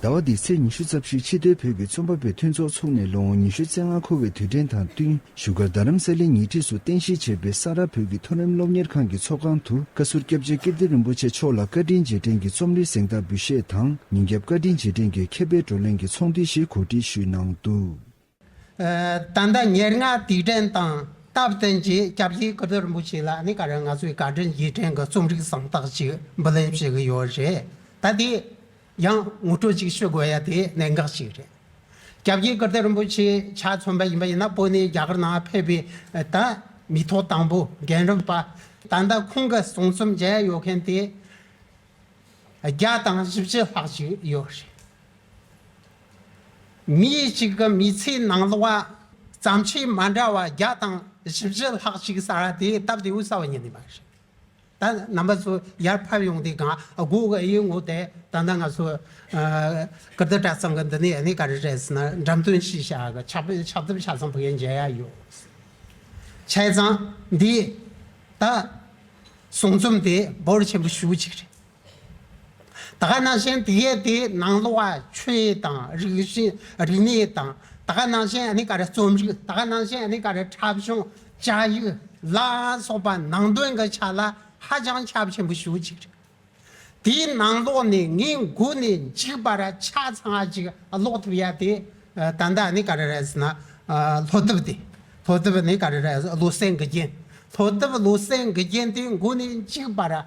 ཟླ་བ་འདིའི་ཚེས་ཉི་ཤུ་རྩ་བཞིར་ཕྱི་སྡོད་བོད་ཀྱི་རྩོམ་པ་པོའི་མཐུན་ཚོགས་ཚུགས་ནས་ལོ་ངོ་ཉི་ཤུ་རྩེ་ལྔ་འཁོར་བའི་དུས་དྲན་དང་བསྟུན་བཞུགས་སྒར་རྡ་རམ་ས་ལའི་ཉེ་འཁྲིས་སུ་རྟེན་གཞི་བྱས་པའི་ས་རཱ་བོད་ཀྱི་མཐོ་རིམ་སློབ་གཉེར་ཁང་གི་ཚོགས་ཁང་དུ་བཀའ་ཟུར་སྐྱབས་རྗེ་ཀིརྟི་རིན་པོ་ཆེ་མཆོག་ལ་བཀའ་དྲིན་རྗེས་དྲན་གྱི་རྩོམ་རིག་གཟེངས་རྟགས་འབུལ་བཞེས་དང་ཉིན་རྒྱབ་བཀའ་དྲིན་རྗེས་དྲན་གྱི་མཁས་པའི་བགྲོ་གླེང་གི་ཚོགས་འདུའི་ཞེ་འཁོར་སྒྲིག་ཞུས་གནང་འདུག། ད་ལྟ་ཉེར་ལྔ་དུས་དྲན་དང་སྟབས་བསྟུན་གྱིས་སྐྱབས་རྗེ་སྐུ་ཕྱྭ་རིན་པོ་ཆེ་ལགས་ནི་ག་རེ་ང་ཚོའི་བཀའ་དྲིན་རྗེས་དྲན་གྱི་རྩོམ་རིག་གསང་རྟགས་ཅིག་འབུལ་ལེན་བྱེད་ཀྱི་ཡོད་རེད་ད། དེ་ཡང་ངོ་སྤྲོད་ཅིག་ཞུ་དགོས་ཡ་དེ་གནད་འགག་ཅིག་རེད། སྐྱབས་རྗེ་སྐུ་ཕྱྭ་རིན་པོ་ཆེ་ཕྱག་མཚོན་པ་ཡིན་པ་ཡིན་ན་པོ་ནས་རྒྱ་གར་ནང་ཕེབས་པའི་ད་མི་ཐོག་དང་པོ་རྒན་རིམ་པ་ད་ལྟ་ཁོང་གི་གསུང་རྩོམ་མཇལ་ཡོད་མཁན་དེ་བརྒྱ་དང་བཞི་བཅུ་ལྷག་ཅིག་ཡོད་རེད། མི་གཅིག་གི་མི་ཚེའི་ནང་ལོ་བ་བརྩམས་ཆོས་མ་འདྲ་བ་བརྒྱ་དང་བཞི་བཞི་ལྷག་ཅིག་གསར་བ་དེ་སྟབས་བདེའུ་གསར་བ་ཉིད་ནས་མ་ཤེས། ད་རྣམ་པ་ཚོ་ཡར་ཕབ་ཡོང་དུས་གང་སྒོ་ཀ་ཡིན་ངོ་དེ་ད་ལྟ་ང་ཚོ་ཀིརྟི་གྲྭ་ཚང་གི་འདི་ནས་ནི་ག་རེ་རེད་ཟེར་ན་འགྲམ་སྟོན་ཞིག་བྱ་གི་ཕྱག་དཔེ་ཕྱག་དེབ་ཆ་ཚང་བུ་ཡ་མཇལ་ཡ་ཡོད། ཆ་ཚང་འདི་ད་ཟུང་རྩོམ་དེ་འབོར་ཆེན་པོ་ཞུ་གི་ཅིག་རེད། ད་ག་ནང་བཞིན་དེ་ཡས་དེ་ནང་ལོ་བ་ཆོས་ཡས་དང་རིགས་བཞིན་རིག་གནས་ཡས་དང་ད་ག་ནང་བཞིན་ཨ་ནི་ག་རེ་རྩོམ་རིག་ད་ག་ནང་བཞིན་ཨ་ནི་ག་རེ་འཁྲབ་གཞུང་བཅའ་ཡིག་ལ་སོགས་པ་ནང་དོན་གྱི་ཆ་ལ་ཧ་ཅང་ཁྱབ་ཆེན་པོ་ཞུ་གཅིག་རེད། དེའི་ནང་ལོགས་ནས་ངས་མགོ་ནས་མཇིག་བར་ཆ་ཚང་གཅིག་ཀློག་ཐུབ་ཡ་དེ་ད་ལྟ་ཨ་ནི་ག་རེ་རེད་ཟེར་ན་ལྷོ་གཏུབ་དེ་ལྷོ་གཏུབ་ཨ་ནི་ག་རེ་རེད་ལོ་སེང་གི་རྒྱན་ལྷོ་གཏུབ་ལོ་སེང་གི་རྒྱན་དེ་མགོ་ནས་མཇིག་བར།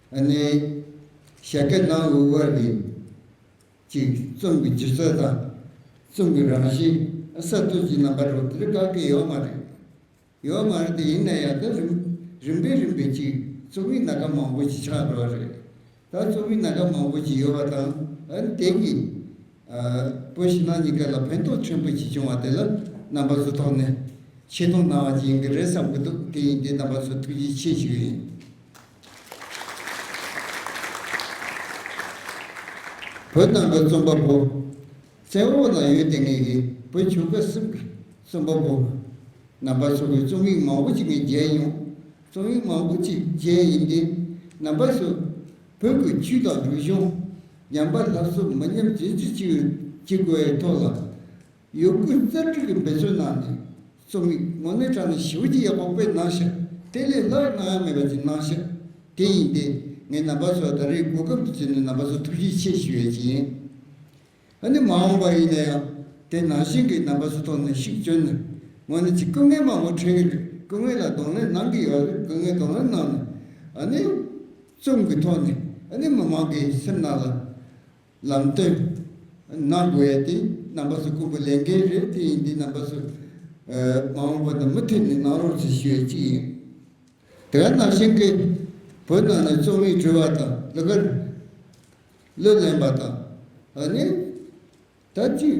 གནས། ཞལ་སྐད་ནང་དབུས་དབར་གྱི། གཅིག། རྩོམ་གྱི་སྦྱིར་ཚད་དང། རྩོམ་གྱི་རང་བཞིན། གསར་གཏོད་ཀྱི་རྣམ་པ་རོ་དེ་རིགས་བཀག་གི་ཡོད་མ་རེད། ཡོད་མ་རེད་དེ་ཡིན་ན་ཡང་ད་རིམ་རིམ་པས་རིམ་པས་གཅིག་རྩོམ་ཡིག་སྣ་ཁ་མང་པོ་ཞིག་ཆགས་འགྲོ་བ་རེད། ད་རྩོམ་ཡིག་སྣ་ཁ་མང་པོ་ཞིག་ཡོད་པ་དང་དེ་གིས། བོད་ཕྱི་ནང་གཉིས་ཀ་ལ་ཕན་ཐོགས་ཆེན་པོ་ཞིག་བྱུང་བ་དེ་ལ་རྣམ་པ་ཚོ་ཐོག་ནས་ཆེ་མཐོང་གནང་བ་ཅིག་ཡིན་གྱི་རེད་བསམ་གྱི་འདུག་དེ་ཡིན་དུས་རྣམ་པ་ཚོ་ཐུགས་རྗེ་ཆེ་ཞུ་ཡི་ཡིན། བོད་ནང་གི་རྩོམ་པ་པོ། བཙན་འོག་ལ་ཡོད་དེ་ངེད་ཀྱི་བོད་ཆོལ་ཁ་སིབ་གི་རྩོམ་པ་པོ། ནང་པ་སོགས་ཀྱི་རྩོམ་ཡིག་མང་བོ་ཅིག་ངས་མཇལ་ཡོང། རྩོམ་ཡིག་མང་བོ་ཅིག་མཇལ་ཡིན་ཏེ། ནང་པ་སོགས། བོད་ཀྱི་ཆུ་དང་རུས་གཞུང། ཉམས་པ་ལྷ་བཟོ་མི་ཉམས་རྗེས་ཀྱི་ཆུ། ཅིག་གོའི་ཐོག་ལ། ཡོད་དགུ་རྩལ་སྤྲུགས་ཀྱི་འབད་བརྩོན་གནང་ནས་རྩོམ་ཡིག་ངོ་མའི་དྲ་ནས་ཞི་བ་ཅི་ཡག་པོ་དཔེ་སྣང་ཤར་དེ་ལས་སླར་གང་ཡང་མེད་པ་ཅིག་སྣང་ཤར་དེ་ཡིན་ཏེ་ངས་ནང་པ་ཚོ་ད་རེས་སྒོ་ཁམས་དུ་བརྩིས་ནས་ནང་པ་ཚོ་ཐུགས་རྗེ་ཆེ་ཞུ་ཡས་ཅི་ཡིན་ཨ་ནི་མ་འོངས་པ་ཡིན་ན་ཡང་དེ་ནང་བཞིན་གྱི་ནང་པ་ཚོ་ཐོག་ནས་ཤུགས་བསྐྱོན་ནས་ངོ་ནས་ཅིག་སྐུ་ངལ་མང་པོ་འཕྲད་ཀྱི་རེད་སྐུ་ངལ་ལ་གདོང་ལེན་གནང་གི་ཡོད་རེད་སྐུ་ངལ་གདོང་ལེན་གནང་ནས་ཨ་ནི་རྩོམ་གྱི་ཐོག་ནས་ཨ་ནི་མི་མང་གི་སེམས་ནང་ལ་ལམ་སྟོན། ང་དགོས་ཡ་དེ་རྣམ་པ་སུ་ཀུན་པོ་ལས་འགལ་རེད་དེ་ཡིན་དེ་རྣམ་པ་སུ། མ་འོངས་པ་དང་མུ་མཐུད་ནས་ནང་རོགས་ཚུལ་ཞུ་ཡ་གཅིག་ཡིན། དེ་ག་ནང་བཞིན་གི། བོད་ནང་ནས་རྩོམ་ཡིག་འབྲི་བ་དང་ལུ་ག། གླུ་ལེན་པ་དང་ནི། ད་ཅིག།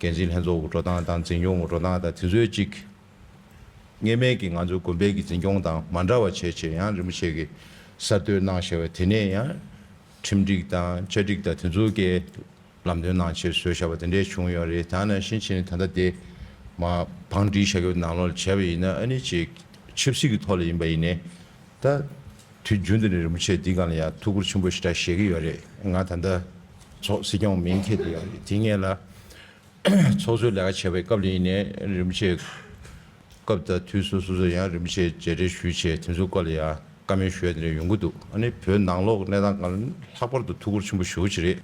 འགན་འཛིན་ལྷན་ཚོགས་འུར་སྒྲོག་སྟངས་དང་འཛིན་སྐྱོང་འུར་སྒྲོག་སྟངས་དང་དེ་ཚོའི་གཅིག་ངེས་མེད་ཀྱི་ང་ཚོའི་གོང་འཕེལ་གྱི་འཛིན་སྐྱོང་དང་མ་འདྲ་བ་བྱས་བྱས་ཡང་རིན་པོ་ཆེ་གི་གསར་གཏོད་གནང་བཞེས་བ་དེ་ནས་ཡང་ཁྲིམས་སྒྲིག་དང་བཅའ་སྒྲིག་དང་དེ་ཚོ་གའི་ལམ་སྟོན་གནང་ཕྱིར་བཟོས་བཞག་པ་དེ་འདྲས་བྱུང་ཡོད་རེད་ད་ནང་བཞིན་བྱས་ནས་ད་ལྟ་དེ་མ་བང་སྒྲིག་བྱ་རྒྱུ་ནང་ལོག་བྱས་པ་ཡིན་ན་ཨ་ནི་ཆེས་ཆབ་སྲིད་ཀྱི་ཐོག་ལ་ཡིན་པ་ཡིན་ནས་ད་དུས་རྒྱུན་དུ་ནས་རིན་པོ་ཆེ་འདི་གང་ལ་ཡང་ཐུགས་ཁུར་ཆེན་པོ་ཞེ་དྲག་བཞེས་ཀྱི་ཡོད་རེད་ང་ད་ལྟ། ཚོགས་སྲིད་སྐྱོང་མིང་འཁེལ་དུ་ཡོང་རེད་དེ་ངེས་ལ། ཚོགས་གཙོའི་ལས་ཀ་བྱེད་པའི་སྐབས་ལ་ཡིན་ནས་རིམ་བྱེད། སྐབས་དང་དུས་སུ་སོ་སོས་ཡང་རིམ་བྱེད་བརྗེ་རེས་ཞུས་ཆེད་དེ་ཚོའི་སྐོར་ལ་ཡང་བཀའ་མོལ་ཞུ་ཡ་དེ་འདྲ་ཡོང་གི་འདུག་ཨ་ནི་བོད་ནང་ལོག་གནས་སྟངས་གང་ལྷག་པར་དུ་ཐུགས་ཁུར་ཆེན་པོ་ཞུ་གི་རེད།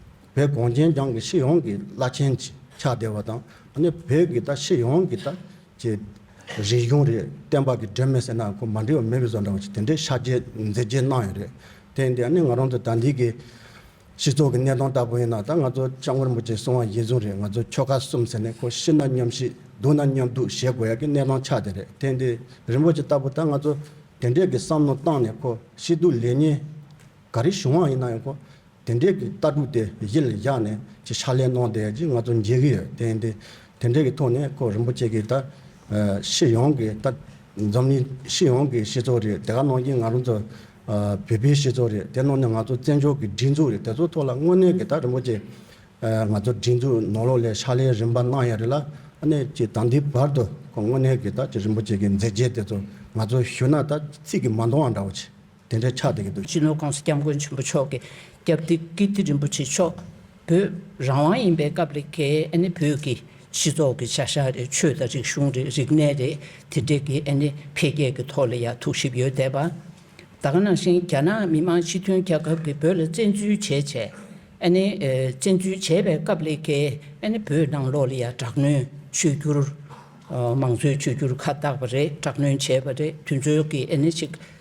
བོད་གངས་ཅན་ལྗང་གི་སྤྱི་ཡོངས་ཀྱི་བླ་ཆེན་གྱི་ཕྱག་བདེ་བ་དང་ཨ་ནི་བོད་ཀྱི་ད་སྤྱི་ཡོངས་ཀྱི་ད་ཀྱི་རིག་གཞུང་རེད་བསྟན་པ་གྱི་སྒྲོན་མེ་ཟེར་ན་ཁོ་མ་འདྲིས་པ་མེད་གི་བཟོ་འདྲ་བ་ཅིག་དེ་འདྲའི་ཕྱག་རྗེས་མཛད་རྗེས་གནང་ཡོད་རེད་དེ་འདི་ཨ་ནི་ང་རང་ཚོ་ད་འདིའི་གི། སྤྱི་ཚོགས་ཀྱི་གནས་སྟངས་ལྟ་བུ་ཡིན་ན་ད་ང་ཚོ་ལྕགས་མགར་མོ་ཅེས་སོང་བ་ཡིན་ཟུང་རེད་ང་ཚོ་ཁྱོ་ག་གསུམ་ཟེར་ནས་ཁོ་ཤི་ན་མཉམ་ཤི་སྡུག་ན་མཉམ་སྡུག་བྱེད་དགོས་ཡག་གི་གནས་སྟངས་ཆགས་དེ་རེད་དེ་འདི་རིན་པོ་ཆེ་ལྟ་བུ་ད་ང་ཚོ་དེ་འདྲས་ཀྱི་བསམ་བློ་བཏང་ནས་ཁོ་ཤི་སྡུག་ལེ་ཉེས་ག་རེ་བྱུང་བ་ཡིན་ན་ཡང་ཁོ་དེ་འདྲས་ཀྱི་ལྟ་གྲུབ་དེ་གཞི་ལ་བཞག་ནས་ཅི་ཕྱག་ལས་གནང་བསྡད་ཀྱི་ང་ཚོ་མཇལ་གྱི་ཡོད་དེ་འདི་དེ་འདྲས་ཀྱི་ཐོག་ནས་ཁོ་རིན་པོ་ཆེ་གྱིས་ད་ཤི་ཡོང་གི་ད་འཛམ་གླིང་ཤི་ཡོང་གི་སྤྱི་ཚོགས་རེད་དེ་ག་གནང་གྱི་ང་རང་ཚོ་བོད་པའི་སྤྱི་ཚོགས་རེད་དེ་ནང་ནས་ང་ཚོ་བཙན་བྱོལ་གྱི་སྒྲིག་འཛུགས་རེད་དེ་ཚོ་ཐོག་ལ་དངོས་གནས་གི་ད་རིན་པོ་ཆེ་ང་ཚོ་སྒྲིག་འཛུགས་ནོར་ལོག་ལས་ཕྱག་ལས་རིམ་པ་གནང་ཡ་རེད་ལ་ནས་ཀྱི་ད་འདི་བར་དུ་ཁོ་དངོས་གནས་གི་ད་ཀྱི་རིན་པོ་ཆེ་གི་མཛད་རྗེས་དེ་ཚོ་ང་ཚོ་ཞུ་ན་ད་ཚིག་གི་མ་འདོང་བ་འདྲ་བོ་ཆེ་དེ་འདྲའི་ཆགས་བསྡད་ཀྱི་འདུག། སྤྱི་ནོར་ཀུང་སི་སྐྱབས་མགོན་ཆེན་པོ་མཆོག་གི་སྐྱབས་བདེ་ཀིརྟི་རིན་པོ་ཆེ་མཆོག། བོད་རང་དབང་ཡིན་པའི་སྐབས་ལས་ཀའི་ཨ་ནི་བོད་ཀྱི་སྤྱི་ཚོགས་ཀྱི་བྱ་གཞག་རེད་ཆོས་དང་རིག་གཞུང་རེད་རིག་གནས་རེད་དེ་འདྲས་ཀྱི་ཨ་ནི་འཕེལ་རྒྱས་ཀྱི་ཐོག་ལ་ཡང་ཐུགས་ཞིབ་ཡོད་བསྡད་པ། ད་ག་ནང་བཞིན་རྒྱ་ནག་མི་མང་སྤྱི་མཐུན་རྒྱལ་ཁབ་ཀྱི་བོད་ལ་བཙན་འཛུལ་བྱས་བྱས་ཨ་ནི་བཙན་འཛུལ་བྱས་པའི་སྐབས་ལས་ཀའི་ཨ་ནི་བོད་ནང་ལོགས་ལ་ཡང་དྲག་གནོན་བྱོས་རྒྱུར། མང་གཙོའི་བྱོས་རྒྱུར་ཁ་བཏགས་པ་རེད་དྲག་གནོན་བྱས་པ་རེད་དུས་ཚོད་ཀྱི་ཨ་ནི་ཅིག་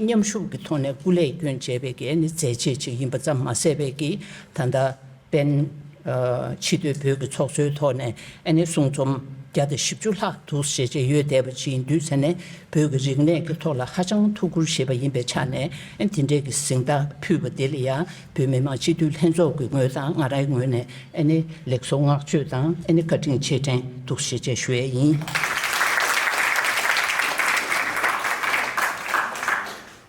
མཉམ་ཤུགས་ཀྱི་ཐོག་ནས་སྐུ་ལས་སྐྱོན་བྱས་པའི་གེགས་ནི་མཛད་རྗེས་གཅིག་ཡིན་པ་ཙམ་མ་ཟད་པའི་གི་ད་ལྟ་པན། ཕྱི་སྡོད་བོད་ཀྱི་ཚོགས་གཙོའི་ཐོག་ནས་ཨ་ནེ་གསུང་རྩོམ་བརྒྱ་དང་བཞི་བཅུ་ལྷག་འདུག་ཞེས་བརྗེད་ཡོལ་བསྡད་པ་ཅི་ཡིན་དུས་ཚེ་ནས་བོད་ཀྱི་རིག་གནས་ཀྱི་ཐོག་ལ་ཧ་ཅང་ཐུགས་ཁུར་བཞེས་པ་ཡིན་པའི་ཆ་ནས་དེ་འདྲའི་གི་གཟེངས་རྟགས་ཕུལ་བ་དེ་ལ་ཡང་བོད་མི་མང་སྤྱི་འཐུས་ལྷན་ཚོགས་ཀྱི་ངོས་དང་ང་རང་གི་ངོས་ནས་ལེགས་གསོལ་བསྔགས་བརྗོད་དང་བཀའ་དྲིན་ཆེ་དྲན་ཐུགས་རྗེ་ཆེ་ཞུ་ཡས་ཡིན།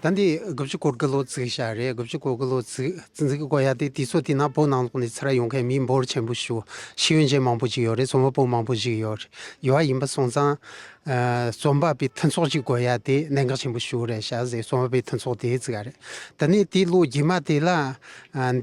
ད་འདི་དགུ་བཅུ་གོ་དགུ་ལོ་བརྩིགས་ཤག་རེད་དགུ་བཅུ་གོ་དགུ་ལོ་བརྩིགས་གོ་ཡག་དེ་དུས་ཚོད་དེ་ན་བོད་ནང་ལོགས་ནས་ཚེ་ར་ཡོང་མཁན་མི་འབོར་ཆེན་པོ་ཞུ་ཤེས་ཡོན་ཅན་མང་པོ་ཞིག་ཡོད་རེད་ཚོང་བ་པོ་མང་པོ་ཞིག་ཡོད་ཡོད་ཡིན་པ་སོང་ཙང་རྩོམ་པ་པོའི་མཐུན་ཚོགས་ཀྱི་དགོས་ཡ་དེ་གནད་འགག་ཆེན་པོ་ཞིག་རེད་བྱ་ཟེར་རྩོམ་པ་པོའི་མཐུན་ཚོགས་དེ་བརྩི་ག་རེད་དེ་ནས་དེའི་ལོ་རྗེས་མ་དེ་ལ་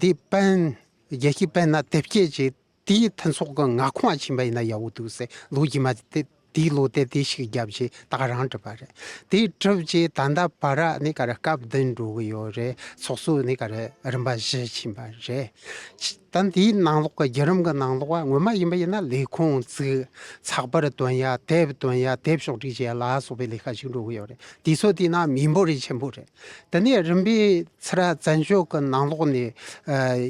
འདི་དཔོན་རྒྱལ་སྤྱི་དཔོན་ན་དེབ་སྐྱེལ་གྱི་དེའི་མཐུན་ཚོགས་ཀྱི་ངག་ཁུངས་ཕྱིན་པ་ཡིན་ན་ཡག་པོ་འདུག་ཟེར་ལོ་རྗེས་མ་དེ་དེའི་ལོ་དེབ་དེ་ཞིག་བརྒྱབ་རྗེས་ད་ག་རང་བྲིས་པ་རེད་དེ་བྲིས་རྗེས་ད་ལྟ་བར་ར་ནི་ག་རེ་སྐབས་བདུན་འགྲོ་གི་ཡོད་རེད་ཚོགས་གཙོ་ནི་ག་རེ་རིམ་པ་བཞི་ཕྱིན་པ་རེད། ད་འདིའི་ནང་ལོགས་ཀྱི་བརྒྱུད་རིམ་གྱི་ནང་ལོགས་བ་ངོ་མ་ཡིན་པ་ཡིན་ན་ལས་ཁུངས་བཙུགས། ཚགས་པར་དོན་ཡ་དེབ་དོན་ཡ་དེབ་ཕྱོགས་སྒྲིག་བྱས་ལ་སོགས་པའི་ལས་ཀ་ཞིག་འགྲོ་གི་ཡོད་རེད་དེ་ཚོ་བལྟས་ན་མི་འབོར་རིགས་ཆེན་པོ་རེད། དེ་ནས་རིམ་པས་ཚེ་ར་བཙན་བྱོལ་གྱི་ནང་ལོགས་ནས་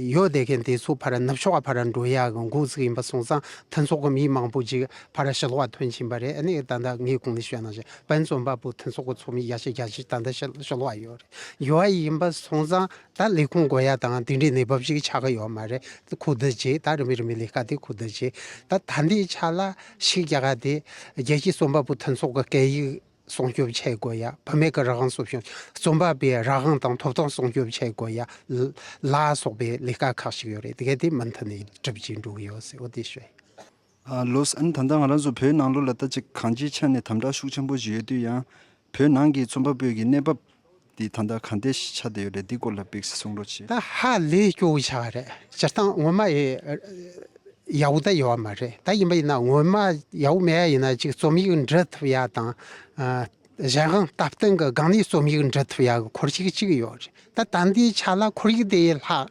ཡོད་བསྡད་མཁན་དེ་ཚོ་ཕར་ནུབ་ཕྱོགས་ཕར་འགྲོ་ཡ་གི་འགོ་བཙུགས་ཡིན་པ་སོང་ཙང་མཐུན་ཚོགས་ཀྱི་མི་མང་པོ་ཅིག་ཕར་ཕྱི་ལོགས་ཐོན་ཕྱིན་པ་རེད་ཨ་ནི་ད་ལྟ་ངས་གོང་ནས་བཤད་གནང་བཞིན་བན་བཙོན་པ་པོ་མཐུན་ཚོགས་ཀྱི་ཚོགས་མི་བརྒྱ་ཆ་བརྒྱ་ཆའི་ད་ལྟ་ཕྱི་ལོགས་ཡོད་རེད་ཡོད་ཡིན་པ་སོང་ཙང་ད་ལས་ཁུངས་དགོས་ཡ་དང་དེ་འདྲའི་གནས་བབ་ཞིག་ཆགས་ཀྱི་ཡོད་མ་རེད་ཁུ་བསྡུ་བྱས་ད་རིམ་པས་རིམ་པས་ལས་ཀ་དེ་ཁུ་བསྡུ་བྱས་ད་ད་ལྟའི་ཆ་ལ་ཕྱི་རྒྱལ་ཁག་དེ་རྒྱལ་སྤྱིའི་རྩོམ་པ་པོ་མཐུན་ཚོགས་ཀྱི་སྐད་ཡིག་སྲུང་སྐྱོབ་བྱེད་དགོས་ཡ་བུད་མེད་ཀྱི་རང་དབང་སྲུང་སྐྱོབ་རྩོམ་པ་པའི་རང་དབང་དང་ཐོབ་ཐང་སྲུང་སྐྱོབ་བྱེད་དགོས་ཡ་ལ་སོགས་པའི་ལས་ཀ་ཁག་ཞིག་ཡོད་རེད་དེ་ག་དེ་མུ་མཐུད་ནས་སྒྲུབ་ཀྱིན་འགྲོ་གི་ཡོད་ཟེར་བ་དེ་བཤད། ལོས་ཨན་ད་ལྟ་ང་རང་ཚོ་བོད་ནང་ལོ་ལ་བལྟ་ཅི་གང་ཅིའི་ཆ་ནས་དམ་དྲག་ཤུགས་ཆེན་པོ་བཞིན་ཡོད་དུས་ཡང་བོད་ནང་གི་རྩོམ་པ་པོའི་གི་གནས་བབ་འདི་ད་ལྟ་གང་འད་ཆ་དེ་ཡོད་རེད་འདི་སྐོར་ལ་བིག་སི་གསུང་རོགས་གྱིས། ཧ་ལས་སྐྱོ་བོ་ཆགས་རེད་སྤྱིར་བཏང་ངོ་མ་ཡི་ཡ་བོ་ད་ཡོད་བ་མ་རེད་ད་ཡིན་པ་ཡིན་ན་ངོ་མ་ཡ་བོ་མེད་ཡ་ཡིན་ན་ཅིག་རྩོམ་ཡིག་འབྲི་ཐུབ་ཡ་དང་གཞན་གང་སྟབས་སྟེང་གི་སྒང་ནས་རྩོམ་ཡིག་འབྲི་ཐུབ་ཡ་གི་འཁོར་ཞིག་ཅིག་ཡོད་རེད་ད་ད་འདའི་ཆ་ལ་འཁོར་ཡིག་དེ་ཡི་ལྷག་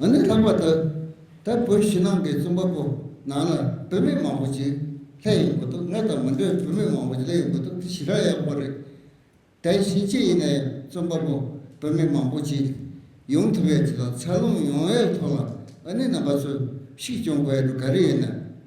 ང་ནི་ལྷག་པར་དུ་ད་བོད་ཕྱི་ནང་གི་རྩོམ་པ་པོ་ནང་ལ་བུད་མེད་མང་པོ་ཞིག་ལྷད་ཡོད་འགོ་འདུག་ང་དང་མི་འདྲ་བའི་བུད་མེད་མང་པོ་ཞིག་ལྷད་ཡོད་འགོ་འདུག་དེ་ཞི་དྲག་ཡག་པོ་རེད། དེ་བཞིན་ཅི་ཡིན་ན་ཡང་རྩོམ་པ་པོ་བུད་མེད་མང་པོ་ཞིག་ཡོང་ཐུབ་ཡོད་དེ་དག་འཚར་ལོངས་ཡོང་བའི་ཐོག་ལ་ཨ་ནེ་རྣམ་པ་ཚོས་ཤུགས་རྐྱོང་དགོས་ཡོད་འདུག་ག་རེ་ཡིན་ན།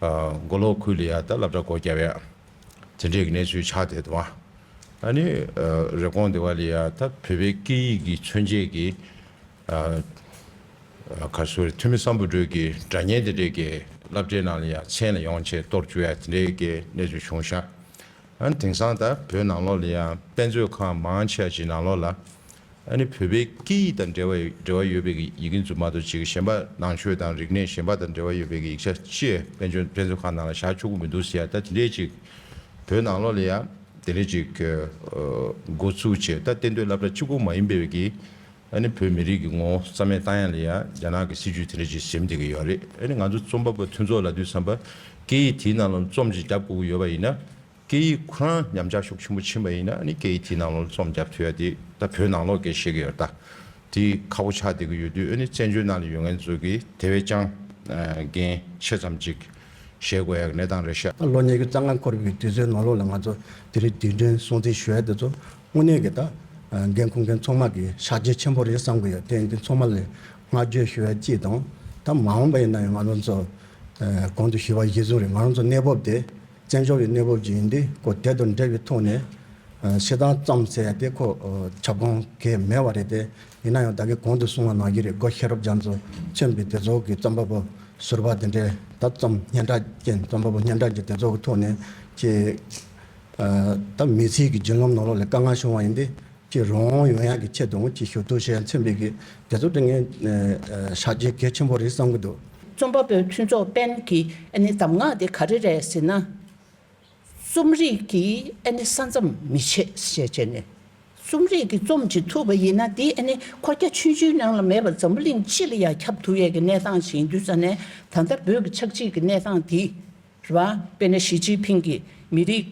མགོ་ལོག་ཁུལ་ལས་ཡ་ད་ལབ་གྲྭ་སྒོ་རྒྱ་བས་དེ་འབྲེལ་གྱི་གནས་ཚུལ་ཕྱག་བསྡད་འདུག་ཨ་ནི་རེབ་གོང་སྡེ་བ་ལས་ཡ་ད་བོད་པའི་སྐད་ཡིག་གི་མཚོན་བྱེད་ཀྱི་གར་སོའི་འཐུས་མི་བསམ་བུ་སྒྲོལ་གྱིས་སྒྲ་བརྙན་དེ་འབྲེལ་གྱི་བསླབ་བྱའི་ནང་ལས་ཡ་མཚན་ལ་ཡོང་ཆེད་གཏོར་བཅུག་ཡ་དེ་འབྲེལ་གྱི་གནས་ཚུལ་བྱུང་ཤག་ཨ་ནི་དེང་སང་ད་བོད་ནང་ལོག་ལས་ཡ་དཔེ་མཛོད་ཁང་མང་ཆེ་བ་ཅིག་ནང་ལོག་ལ་ཨ་ནི་བོད་པའི་སྐད་ཡིག་དང་འབྲེལ་བ་འབྲེལ་བ་ཡོད་པའི་ཡི་གེ་རྫུན་མ་དང་བྱེད་ཀྱི་ཞེན་པ་ནང་ཆོས་དང་རིག་གནས་ཞེན་པ་དང་འབྲེལ་བ་ཡོད་པའི་ཡིག་ཆ་ཅེས་དཔལ་འབྱོར་དཔེ་མཛོད་ཁང་ནང་ལ་བཞག་ཆོག་གི་མི་འདུག་ཟེར་ཡ་ད་དེ་འདྲའི་ཅིག་བོད་ནང་ལོག་ལ་ཡ་དེ་འདྲའི་ཅིག་གི་འགོ་ཚུགས་བྱས་ད་བསྟན་དོན་བླ་བྲ་གཅིག་པོ་མ་ཡིན་པའི་གི་ཨ་ནི་བོད་མི་རིགས་ཀྱི་ངོ་བོ་རྩ་མེད་བཏང་ཡ་ལ་ཡ་རྒྱ་ནག་གི་སྲིད་ཇུས་དེ་འདྲའི་ཅིག་ཟེམ་བསྡད་གི་ཡོད་རེད་ཨ་ནི་ང་ཚོ་རྩོམ་པ་པོ་མཐུན་ཚོགས་ལ་དུས་བསམ་པ་སྐད་ཡིག་དེའི་ནང་ལ་རྩོམ་ཅིག་བརྒྱབ་དགོས་གི་ཡོད་པ་ཡིན་ན་སྐད་ཡིག་ཁོ་རང་ཉམས་ཆག་ཤུགས་ཆེན་པོ་ཕྱིན་པ་ཡིན་ན་ནི་སྐད་ཡིག་དེའི་ནང་ལོག་རྩོམ་རྒྱབ་ཐུབ་ཡ་དེ་ད་བོད་ནང་ལོག་སྐད་བཤད་ཀྱི་ཡོད་ད། དེ་ཁ་བོ་ཆགས་བསྡད་ཀྱི་ཡོད་དུས་ཨ་ནི་བཙན་བྱོལ་ནང་ལ་ཡོད་ངན་ཚོད་ཀྱིས་དེ་བས་ཀྱང་འགན་ཆེ་ཙམ་ཅིག་བཞེས་དགོས་ཡ་གི་གནས་སྟངས་རེད་ཤག། ལོ་ཉེས་ཀྱི་རྩ་སྔ་འཁོར་བའི་དུས་ཚོད་ནང་ལོག་ལ་ང་ཚོ་དེ་རིང་དུས་དྲན་སྲུང་བརྩི་ཞུ་ཡ་དེ་ཚོ་དངོས་གནས་ཀྱི་ད་འགན་ཁུར་མཁན་ཚོགས་མ་གི་ཕྱག་རྗེས་ཆེན་པོ་རེད་བསམ་གྱི་ཡོད་དེ་འདི་ཚོགས་མ་ལ་བསྔགས་བརྗོད་ཞུ་ཡ་ཅིག་དང་ད་མ་འོངས་པ་ཡིན་ན་ཡང་ང་རང་ཚོ་གོང་དུ་ཞུས་པ་བཞིན་ཟུང་རེད་ང་རང་ཚོ་གནས་བབ་དེ་བཙན་བྱོལ་བའི་གནས་བབ་ཀྱི་ཡིན་དུས་ཁོ་དལ་དུ་འབྲེལ་བའི་ཐོག་ནས་བཤད་སྟངས་བརྩམས་ཟེར་ཡ་དེ་ཁོ་ཁྱབ་ཁོངས་ཁེ་མེད་བ་རེད་དེ། ཡིན་ན་ཡང་ད་གིན་གོང་དུ་གསུང་བ་ནང་བཞིན་རེད་སྒོ་ཤེར་རབ་འབྱམས་སུ་ཕྱིན་པའི་དེ་ཚོ་གི་བརྩམས་པ་པོ་ཟུར་བ་དེ་འདྲས་ད་བརྩམས་སྙན་གྲགས་རྐྱེན་བརྩམས་པ་པོ་སྙན་གྲགས་ཀྱི་དེ་ཚོ་གི་ཐོག་ནས་ཀྱི། ད་མི་ཚེའི་གི་རྒྱུན་ལམ་ནང་ལོག་ལས་དཀའ་ངལ་བྱུང་བ་ཡིན་དུས། ཀྱི་རང་དབང་ཡོད་ཡག་གི་ཆེད་དུ་ཅིག་ཤོས་གཏོད་བྱས་མཚོན་པའི་གི་དེ་ཚོ་དྲི་ངན་ཤག་རྒྱལ་གལ་ཆེན་པོ་རེད་བསམ་གི་འདུག། རྩོམ་པ་པོའི་མཐུན་ཚོགས་པན་གྱི་ཨ་ནི་གདམས་ངག་དེ་ག་རེ་རེད་ཟེར་ན། རྩོམ་རིག་གི་ཨ་ནི་ས་མཚམས་མི་ཕྱེད་ཞེས་བྱས་ནས། རྩོམ་རིག་གི་རྩོམ་བྱེད་ཐུབ་པ་ཡིན་ན་དེ་ཨ་ནི་ཁོ་རྒྱ་ཆུང་ཆུང་ནང་ལ་མེད་པར་འཛམ་བུ་གླིང་སྤྱི་ལ་ཡང་ཁྱབ་ཐུབ་ཡག་གི་གནས་སྟངས་ཤིག་ཡིན་དུས་ས་ནས་ད་ལྟ་བོད་ཀྱི་ཆག་འཇིག་གི་གནས་སྟངས་དེ་རེད། དཔེར་ན་ཞི་ཅིན་ཕིང་གིས་མི་རིགས་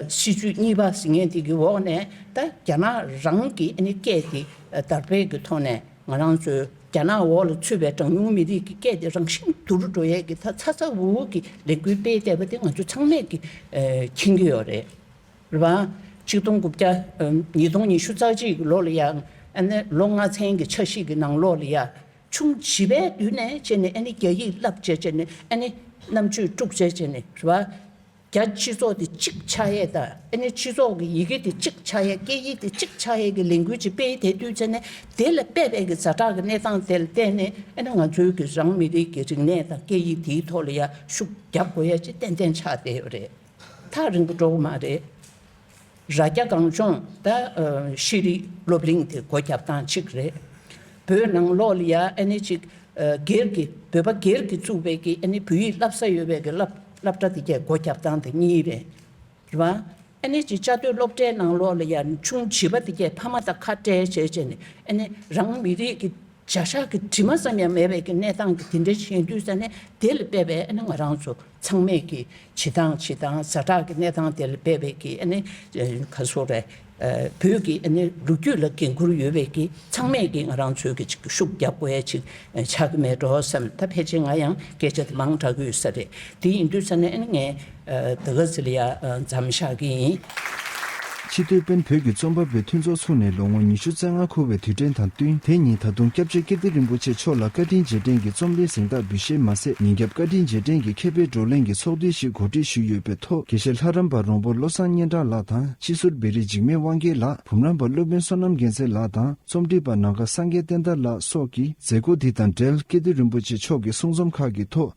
སྲིད་ཇུས་གཉིས་པ་ཟེར་མཁན་དེ་གི་འོག་ནས་ད་རྒྱ་ནག་རང་གི་སྐད་དེ་དར་སྤེལ་གི་ཐོག་ནས་ང་རང་ཚོའི་རྒྱ་ནག་འོག་ལ་ཚུད་པའི་གྲངས་ཉུང་མི་རིགས་ཀྱི་སྐད་དེ་རང་བཞིན་བསྡུ་རུ་འགྲོ་ཡས་ཀྱི་ད་ཚ་ཚ་འུར་འུར་གྱི་ལས་འགུལ་སྤེལ་བསྡད་པ་དེ་ང་ཚོ་ཚང་མས་ཀྱི་མཁྱེན་གྱི་ཡོད་རེད། གཅིག་སྟོང་དགུ་བརྒྱ་ཉིས་སྟོང་ཉི་ཤུ་རྩ་གཅིག་གི་ལོ་ལ་ཡང་ཨ་ནེ་ལོ་ལྔ་ཚན་གྱི་ཆ་ཤིག་གི་ནང་ལོགས་ལ་ཡང་ཆུང་བྱིས་པའི་དུས་ནས་བྱས་ནས་ཨ་ནི་རྒྱ་ཡིག་བསླབ་བྱས་བྱས་ནས་ཨ་ནི་རྣམ་དཔྱོད་དཀྲུགས་བྱས་བྱས་ནས་རེད་པ། རྒྱ་སྤྱི་ཚོགས་དེ་གཅིག་ཆ་ཡས་དང་ཨ་ནི་སྤྱི་ཚོགས་ཀྱི་ཡི་གེ་དེ་གཅིག་ཆ་ཡས་སྐད་ཡིག་དེ་གཅིག་ཆ་ཡས་ཀྱི་ལས་འགུལ་གཅིག་སྤེལ་དེ་དུས་ཚེ་ནས་དེ་ལ་དཔེ་བལ་གྱི་རྫ་བྲག་གི་གནས་སྟངས་དེ་ལ་བལྟས་ནས་ཨ་ནི་ང་ཚོའི་གི་རང་མི་རིགས་ཀྱི་རིག་གནས་དང་སྐད་ཡིག་དེའི་ཐོག་ལ་ཡར་ཤུགས་རྒྱག་དགོས་ཡ་ཅི་ཏན་ཏན་ཆགས་བསྡད་ཡོད་རེད། ཐག་རིང་པོ་འགྲོ་གི་མ་རེད། རྭ་རྒྱ་གངས་ལྗོངས་ད་ཤེས་རིག་སློབ་གླིང་དེ་སྒོ་རྒྱབ་སྟངས་གཅིག་རེད། བོད་ནང་ལོགས་ལི་ཡ་ཨ་ནེ་གཅིག་སྒེར་གྱི་བོད་པ་སྒེར་གྱིས་བཙུགས་པའི་གི་ཨ་ནེ་བོད་ཡིག་བསླབ་ས་ཡོད་པའི་གི་བསླབ་གྲྭ་དེ་གའི་སྒོ་རྒྱབ་སྟངས་དེ་གཉིས་རེད། རེད་བ། ཨ་ནེ་གཅིག་བཅའ་སྡོད་སློབ་གྲྭའི་ནང་ལོགས་ལི་ཡ་ཆུང་བྱིས་པ་དེ་གའི་ཕ་མ་དང་ཁ་བྲལ་བྱས་བྱས་ནས་ཨ་ནེ་རང་མི་རིགས་ཀྱི་བྱ་བཞག་གི་དྲི་མ་ཙམ་ཡང་མེད་པའི་གི་གནས་སྟངས་དེ་དེ་འདྲའི་ཞན་དུས་ས་ནས་དེ་ལ་བལྟས་པས་ཨ་ནེ་ང་རང་ཚོ་ཚང་མས་ཀྱི་བྱེད་སྟངས་བྱེད་སྟངས་ཟ་འཁྲག་གི་གནས་སྟངས་དེ་ལ་འབད་པས་ཀྱི་ཨ་ནི་ག་ཚོད་རེད། བོད་ཀྱི་ཨ་ནི་ལོ་རྒྱུས་ལ་འགན་ཁུར་ཡོད་པས་ཀྱི་ཚང་མས་ཀྱི་ང་རང་ཚོས་ཀྱི་ཅིག་ཤུགས་རྒྱབ་དགོས་ཡ་ཅིག་ཆགས་ཀྱི་མེད་འགྲོ་བསམ་ད་ཕལ་ཆེར་ང་ཡང་སྐད་ཆ་དེ་མང་དྲག་གི་ཡོད་ས་རེད་དེ་ཡིན་དུས་ས་ནས་ཨ་ནི་ངས་ད་ག་ཟེ་ལ་ཡ་འཛམ་བཞག་གི་ཡིན། ཕྱི་སྡོད་དཔོན་བོད་ཀྱི་རྩོམ་པ་པོའི་མཐུན་ཚོགས་ཚུགས་ནས་ལོ་ངོ་ཉི་ཤུ་རྩ་ལྔ་འཁོར་བའི་དུས་དྲན་དང་བསྟུན་དེ་ཉིན་ད་དུང་སྐྱབས་རྗེ་ཀིརྟི་རིན་པོ་ཆེ་མཆོག་ལ་བཀའ་དྲིན་རྗེས་དྲན་གྱི་རྩོམ་ལེན་གཟེངས་རྟགས་འབུལ་བཞེས་མ་ཟད་ཉིན་རྒྱབ་བཀའ་དྲིན་རྗེས་དྲན་གྱི་མཁས་པའི་བགྲོ་གླེང་གི་ཚོགས་འདུ་ཞིག་གོ་སྒྲིག་ཞུས་ཡོད་པའི་ཐོག་དགེ་བཤེས་ལྷ་རམས་པ་རོང་པོ་བློ་བཟང་སྙན་གྲགས་ལགས་དང་སྤྱི་ཟུར་བེ་རི་འཇིགས་མེད་དབང་རྒྱལ་ལགས་བུམ་རམས་པ་སློབ་དཔོན་བསོད་ནམས་རྒྱལ་མཚན་ལགས་དང་རྩོམ་སྒྲིག་པ་ནང་དགའ་སངས་རྒྱས་བསྟན་དར་ལགས་སོགས་ཀྱིས་མཛད་སྒོ་འདི་དང་འབྲེལ་ཀིརྟི་རིན་པོ་ཆེ་མཆོག་གི་གསུང་རྩོམ་ཁག་གི་ཐོག